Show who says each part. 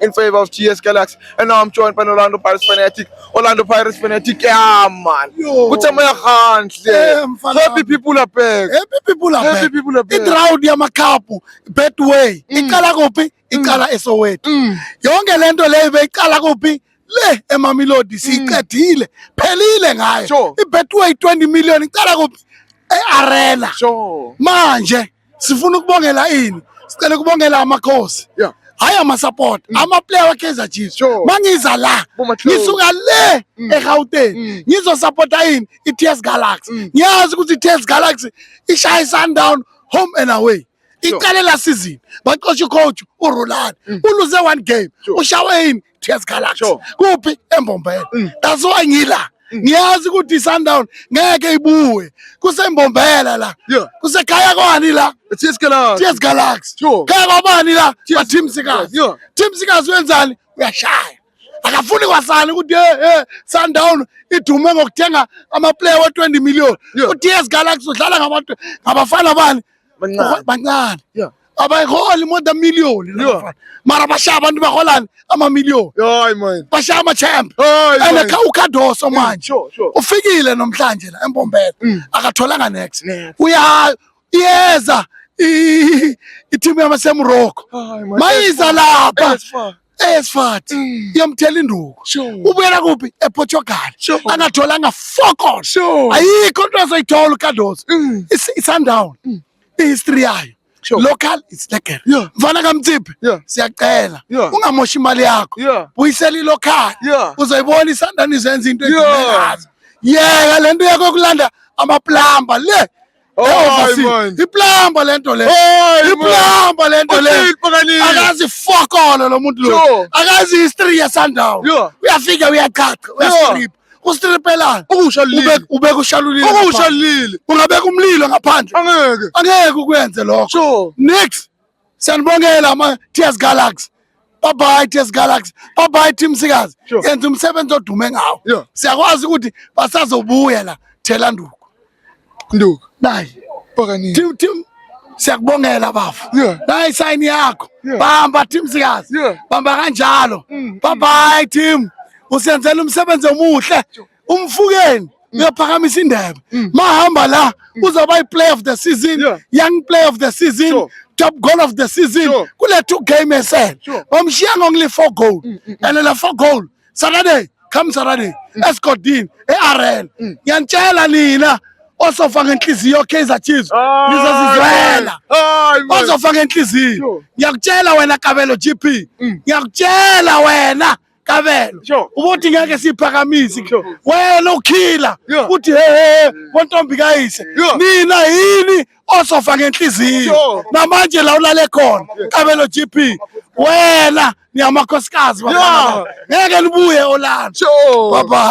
Speaker 1: in favor of GS Galaxy. And now I'm joined by an Orlando Pirates fanatic. Orlando Pirates fanatic. Yeah, man. Kutamaya Khantle. Happy people are back. Happy people are back. Happy people are back. Idraud yamakapu.
Speaker 2: Betway. Mm. Ikala kuphi? Mm. Ikala eSoweto. Mm. Yonke lento leyo beyicala kuphi? le emamilodi siyiqedile phelile ngayo ibetway 20 million icala kuphi e-arena manje sifuna ukubongela ini sicela ukubongela amakhosi yeah hayi amasupport mm. amaplayer wakaizer chiefs sure. mangiza la ngisuka le mm. egauteng mm. ngizosupporta yini i-ts galaxy mm. ngiyazi ukuthi i-ts galaxy ishaye sundown home and away iqale la season baxosha icoach urulani mm. uluze one game ushawe yini tears colored Sure. kuphi embombela Mm. that's why ngila ngiyazi ukuthi sundown ngeke ibuye kusembombela la Yeah. kusekhaya kwani la Tears colored. tears
Speaker 1: galaxy
Speaker 2: Sure. khaya kwabani la Tears- bateam sikazi Yeah. team sikazi wenzani uyashaya akafuni kwasani ukuthi hey, hey, sundown idume ngokuthenga amaplayer we-20 million Yeah. uts galaxy udlala ngabantu ngabafana bani bancane abayiholi more than million mara bashaya abantu baholani amamillion bashaya amachamp and ucardoso manje ufikile nomhlanje la embombela mm. akatholanga next uya iyeza itimu yamasemurocco mayiza lapha esifati mm. iyomthela induku ubuyela kuphi eportugal angatholanga focon ayikho into azoyithola ucardos mm. isundown mm. ihistory yayo Sure. Local is lekker. Yeah. Mfana kaMthiphi. Yeah. Siyacela. Yeah. Ungamoshi imali yakho. Yeah. Buyisela ilocal. Yeah. Uzoyibona isandani izenza into engazi. Yeah, lento yakho kulanda amaplamba le. Overseas. iplamba lento le iplamba lento le akazi fokolo lo muntu lo akazi history yesandawo uyafika uyachacha uyastrip ustripelana ukusha lile ubeka ushalulile ukusha lile ungabeka umlilo ngaphandle angeke angeke ukwenze lokho nix Siyanibongela ama TS Galaxy. Bye bye TS Galaxy. Bye bye Team Sikazi. Sure. Yenza umsebenzi odume ngawo. Yeah. Siyakwazi ukuthi basazobuya la thela nduku. Nduku. Nayi. Okanye. Team team siyakubongela bafo yeah. nayi sign yakho yeah. bamba team sikazi yeah. bamba kanjalo mm. bye bye team usenzela umsebenzi omuhle umfukeni mm. uyaphakamisa indebe mm. mahamba la mm. uzaba i-play of the season yeah. young play of the season sure. top goal of the season sure. kule two game esele sure. bamshiya ngongile four goal mm, mm, and la four goal saturday come saturday mm. esgodini e-arena mm. ngiyanitshela nina osofa ngenhliziyo kaizer chiefs nizozizwela osofa ngenhliziyo ngiyakutshela wena kabelo gp ngiyakutshela wena kabelo ubothi ngeke siphakamise wena ukhila uthi hehe bontombi kayise nina yini osofa ngenhliziyo namanje la ulale khona kabelo gp wena niyamakhosikazi ngeke nibuye olanda bye bye